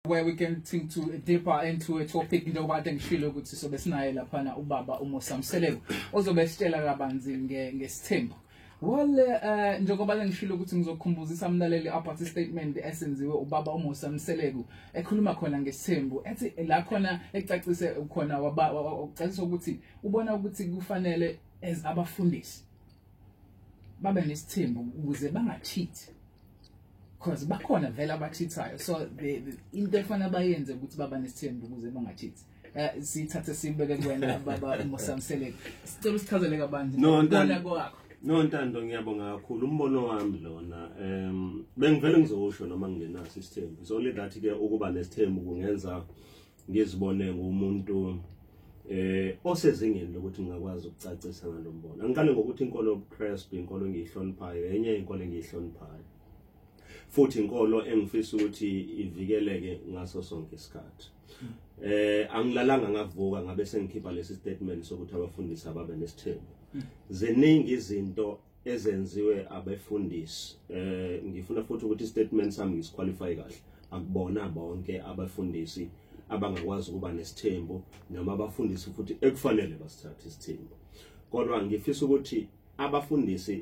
where we can think to deeper into a topic njengoba kade ngishilo ukuthi sobe sinaye laphana ubaba uMosa Mseleku ozobe sitshela kabanzi ngesithembu Well eh njengoba ngishilo ukuthi ngizokhumbuzisa umlaleli about i statement esenziwe ubaba uMusa Mseleku ekhuluma khona ngesithembu ethi la khona ecacise khona waba ucacisa ukuthi ubona ukuthi kufanele as abafundisi babe nesithembu ukuze bangachithi cause bakhona vele abacheathayo so into efana bayenze ukuthi baba nesithembu ukuze bangacheathi eh, sithathe sibeke kuwena baba uMosamseleke sicela usichazele kabanzi no ntando kwakho no ntando ngiyabonga kakhulu umbono wami lona em bengivele ngizosho noma ngingenaso isithembu so le that ke ukuba nesithembu kungenza ngizibone ngumuntu eh osezingeni lokuthi ngingakwazi ukucacisa ngalombono angiqale ngokuthi inkolo yobuKristu inkolo engiyihloniphayo enye inkolo engiyihloniphayo futhi inkolo engifisa ukuthi ivikeleke ngaso sonke isikhathi eh angilalanga ngavuka ngabe sengikhipha lesi statement sokuthi abafundisi ababe nesithembu ziningi izinto ezenziwe abefundisi eh ngifuna futhi ukuthi statement sami ngisiqualify kahle akubona bonke abafundisi abangakwazi ukuba nesithembu noma abafundisi futhi ekufanele basithathe isithembu kodwa ngifisa ukuthi abafundisi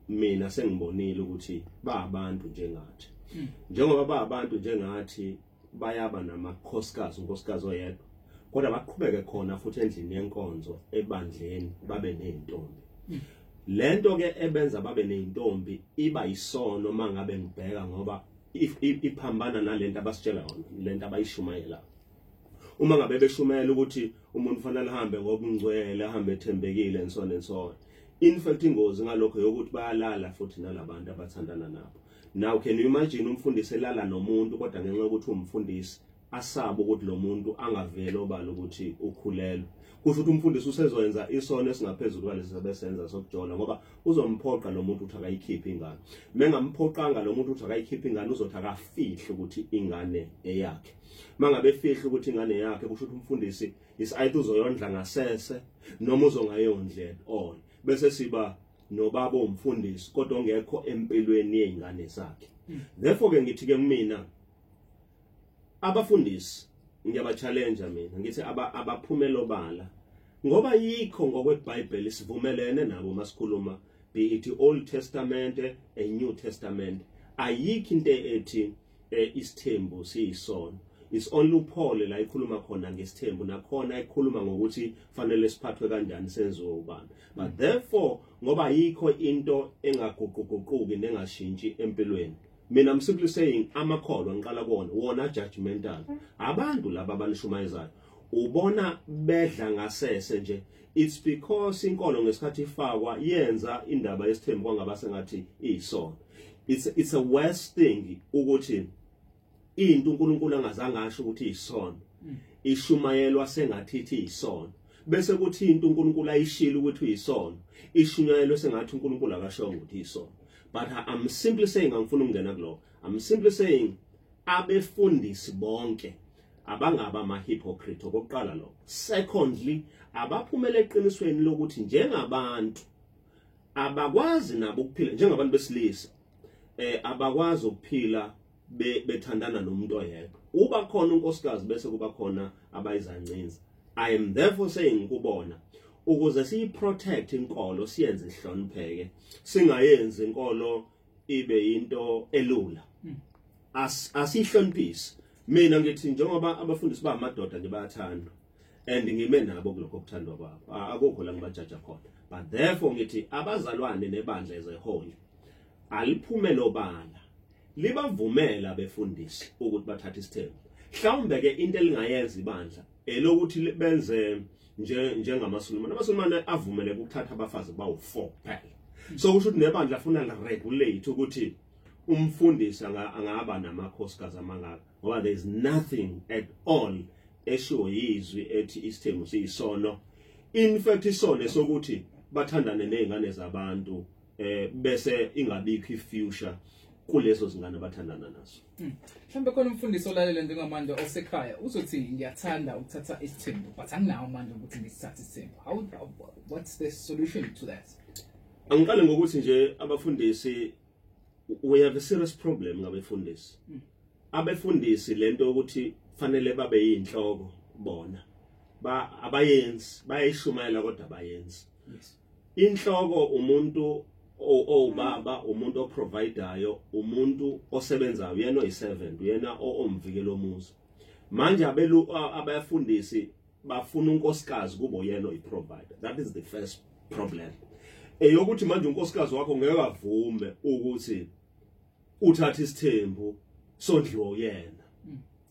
mina sengibonile ukuthi ba abantu njengathi hmm. njengoba ba abantu njengathi bayaba namakhosikazi unkosikazi oyedwa kodwa baqhubeke khona futhi endlini yenkonzo ebandleni babe nezintombi hmm. lento ke ebenza babe nezintombi iba isono mangabe ngibheka ngoba iphambana nalento abasitshela yona lento abayishumayela uma ngabe beshumayela ukuthi umuntu fanele ahambe ngobungcwele ahambe ethembekile and so on and so on in fact ingozi ngalokho yokuthi bayalala futhi nalabantu abathandana nabo now can you imagine umfundisi elala nomuntu kodwa ngenxa yokuthi umfundisi asaba ukuthi lo muntu angavele obala ukuthi ukhulelwe kusho ukuthi umfundisi usezoyenza isono esingaphezulu kwalesi sebesenza sokujola ngoba uzomphoqa lo muntu ukuthi akayikhiphe ingane mengamphoqanga lo muntu ukuthi akayikhiphe ingane uzothi akafihle ukuthi ingane eyakhe mangabe efihle ukuthi ingane yakhe kusho ukuthi umfundisi is ayithu uzoyondla ngasese noma uzongayondlela all bese siba nobaba umfundisi kodwa ongekho empilweni yeingane zakhe hmm. therefore ke ngithi ke mina abafundisi ngiyaba challenge mina ngithi abaphumela obala ngoba yikho ngokweBhayibheli sivumelene nabo masikhuluma be it Old Testament a New Testament ayikho into ethi eh isithembu siyisono is only uphole la ikhuluma khona ngesithembu nakhona ikhuluma ngokuthi fanele siphathwe kanjani senziwe ubani but therefore ngoba yikho into engaguquguquki nengashintshi empilweni mina i'm simply saying amakholwa ngiqala kuwona wona judgmental abantu laba abanishumayezayo ubona bedla ngasese nje it's because inkolo ngesikhathi ifakwa yenza indaba yesithembu kwangaba sengathi iyisono it's it's a worse thing ukuthi into uNkulunkulu angazange asho ukuthi iyisono mm. ishumayelwa sengathi ithi iyisono bese kuthi into uNkulunkulu ayishilo ukuthi uyisono ishunyayelwe sengathi uNkulunkulu akashongo ukuthi iyisono but i'm simply saying angifuni ukungena kuloko i'm simply saying abefundisi bonke abangaba ama-hypocrite okokuqala lokho secondly abaphumela eqinisweni lokuthi njengabantu abakwazi nabo ukuphila njengabantu besilisa eh abakwazi ukuphila bethandana nomuntu oyedwa uba khona unkosikazi bese kuba khona abayizancinza i am therefore saying kubona ukuze siyi protect inkolo siyenze ihlonipheke singayenzi inkolo ibe into elula hmm. as asihloniphisi mina ngithi njengoba abafundisi ba amadoda nje bayathandwa and ngime nabo kulokho okuthandwa kwabo akukho la ngibajaja khona but therefore ngithi abazalwane nebandla ezehole aliphume lobala libavumela befundisi ukuthi bathathe isithembu mhlawumbe ke into elingayenza ibandla elokuthi benze nje njengamaSulumane amaSulumane avumele ukuthatha abafazi bawu4 kuphela so kusho ukuthi nebandla afuna liregulate ukuthi umfundisi angaba namakhosikazi amangaka ngoba there is nothing at all eshiwo yizwi ethi isithembu siyisono in fact isone sokuthi bathandane nezingane zabantu eh bese ingabikho ifuture kulezo zingane abathandana nazo hmm. mhlawumbe khona umfundisi olalela njengamanje osekhaya uzothi ngiyathanda ukuthatha isithembu but anginawo manje ukuthi ngisithathe isithembu how what's the solution to that angiqale ngokuthi nje abafundisi we have a serious problem ngabefundisi hmm. abefundisi lento ukuthi fanele babe yinhloko bona ba abayenzi bayayishumayela kodwa abayenzi inhloko umuntu owubaba umuntu oprovidayo umuntu osebenzayo uyena oyi-servant uyena omvikela omuzi manje abelu abayafundisi bafuna unkosikazi kubo yena oyi-provider that is the first problem eyokuthi manje unkosikazi wakho ngeke avume ukuthi uthathe isithembu sondliwo yena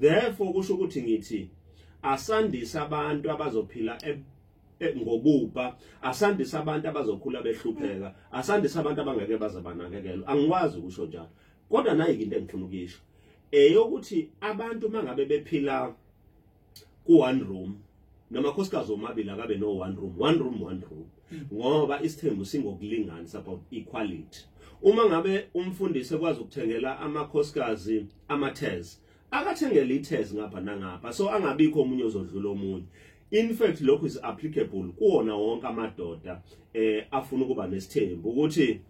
therefore kusho ukuthi ngithi asandise abantu abazophila e- e- ngobubha asandise abantu abazokhula behlupheka asandise abantu abangeke baze banakekelwe angikwazi ukusho njalo kodwa nayi into engifuna ukuyisho eyokuthi abantu mangabe bephila ku one room namakhosikazi omabili akabe no one room one room one room hmm. ngoba isithembu singokulingana it's about equality uma ngabe umfundisi ekwazi ukuthengela amakhosikazi amathezi akathengele ithezi ngapha nangapha so angabikho omunye ozodlula omunye in fact lokho is applicable kuwona wonke amadoda eh afuna ukuba nesithembu ukuthi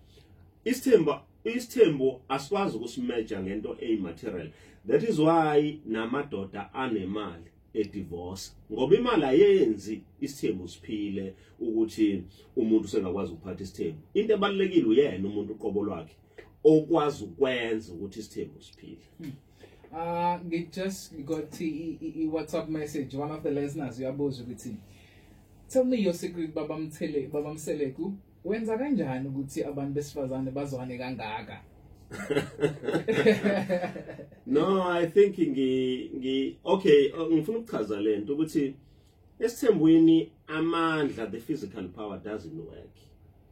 isithembu isithembu asikwazi ukusimeja ngento eyimaterial that is why namadoda anemali edivorce ngoba imali ayenzi isithembu siphile ukuthi umuntu sengakwazi ukuphatha isithembu into ebalekile uyena umuntu uqobo lwakhe okwazi ukwenza ukuthi isithembu siphile hmm. ah ngi just got i WhatsApp message one of the listeners uyabuza ukuthi tell me your secret babamthele babamseleku Wenza kanjani ukuthi abantu besifazane bazwane kangaka? no, I think ngi ngi okay, oh, ngifuna ukuchaza lento ukuthi esithembweni amandla the physical power doesn't work.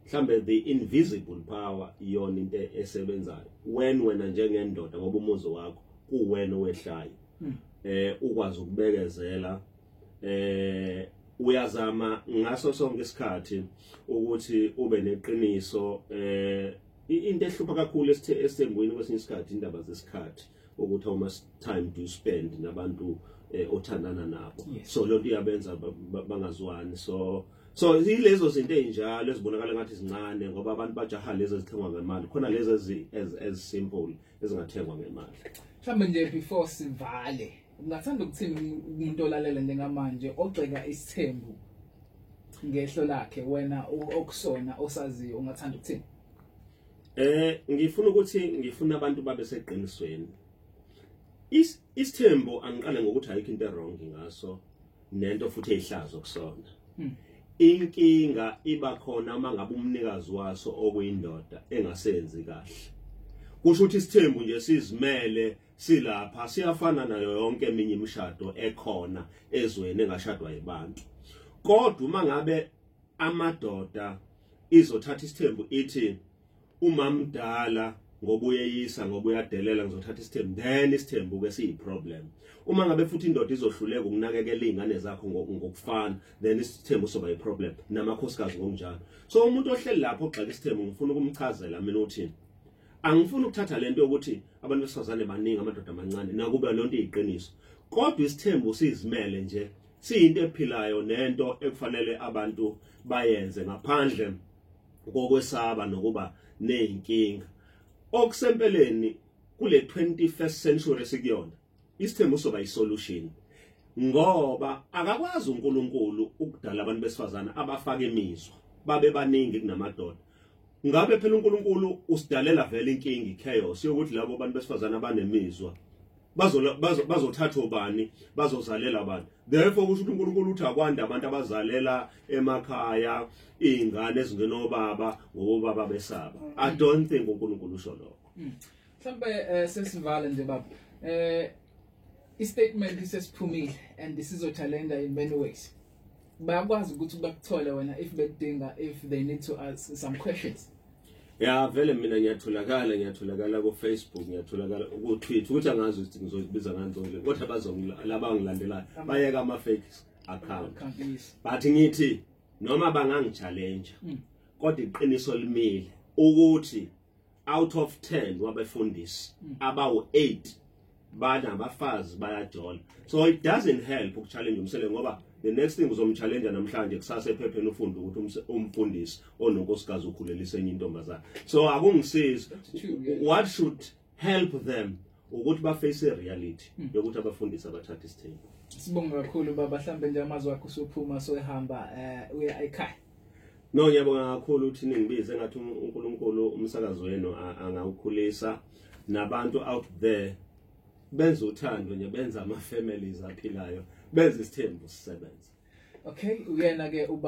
Mhlambe the invisible power iyona into esebenzayo. When wena njengendoda ngoba umuzi wakho kuwena owehlayo. Hmm. Eh ukwazi ukubekezela eh uyazama ngaso sonke isikhathi ukuthi ube neqiniso eh into ehlupha kakhulu esithembweni kwesinye isikhathi indaba zesikhathi ukuthi how much time do you spend nabantu eh, othandana nabo yes. so lonto iyabenza bangazwani so so ilezo zinto ezinjalo ezibonakala ngathi izincane ngoba abantu bajaha lezi ezithengwa ngemali khona lezi as as simple ezingathengwa ngemali mhlawumbe nje before sivale Ungathanda ukuthini umuntu olalela njengamanje ogxeka isithembu ngehlo lakhe wena okusona osaziyo ungathanda ukuthini? Eh ngifuna ukuthi ngifuna abantu babe seqinisweni. Is isithembu angiqale ngokuthi ayikho into wrong ngaso nento futhi eyihlazo kusona. Hmm. Inkinga iba khona uma ngabe umnikazi waso okuyindoda engasenzi kahle. Kusho ukuthi isithembu nje sizimele silapha siyafana nayo yonke eminye imishado ekhona ezweni engashadwa yibantu kodwa uma ngabe amadoda izothatha isithembu ithi umamdala ngoba uyeyisa ngoba uyadelela ngizothatha isithembu then isithembu ke siyi problem uma ngabe futhi indoda izohluleka ukunakekela izingane zakho ngokufana then isithembu soba i problem namakhosikazi ngokunjalo so umuntu ohleli lapho ogxeka isithembu ngifuna ukumchazela mina uthini angifuni ukuthatha lento ukuthi abantu besifazane baningi amadoda amancane nakuba lonto iyiqiniso kodwa isithembu sizimele nje siyinto ephilayo nento ekufanele abantu bayenze ngaphandle kokwesaba nokuba nezinkinga okusempeleni kule 21st century sikuyona isithembu soba isolution ngoba akakwazi uNkulunkulu ukudala abantu besifazana abafaka imizwa babe baningi kunamadoda ngabe phela uNkulunkulu usidalela vele inkinga ichaos yokuthi labo bantu besifazana abanemizwa bazothathwa bani bazozalela abantu therefore kusho ukuthi uNkulunkulu uthi akwande abantu abazalela emakhaya izingane ezingena obaba ngobaba besaba i mm. don't think uNkulunkulu usho lokho mm. mhlawumbe eh, sesivale nje baba eh istatement isesiphumile and this is a challenger in many ways bayakwazi ukuthi bakuthole wena if bedinga if they need to ask some questions ya vele mina ngiyatholakala ngiyatholakala ku Facebook ngiyatholakala ku Twitter ukuthi angazi ukuthi ngizobiza ngantoni kodwa bazongilaba ngilandelayo bayeka ama fake account but ngithi noma bangangichallenge mm. kodwa iqiniso limile ukuthi out of 10 wabefundisi mm. abawu 8 bana abafazi bayajola so it doesn't help ukuchallenge umsele ngoba the next thing uzomchallenge namhlanje kusase ephepheni ufunde ukuthi umfundisi ononkosikazi ukhulelisa enye intombazana so akungisizi what should help them ukuthi ba face reality hmm. yokuthi abafundisi abathatha isithembu sibonga kakhulu baba mhlambe nje amazwi akho usuphuma soyihamba eh uya ekhaya No ngiyabonga kakhulu ukuthi ningibize ngathi uNkulunkulu umsakazo wenu angawukhulisa nabantu out there benza uthando nje benza ama families aphilayo benza isithembu sisebenza okay uyena ke uba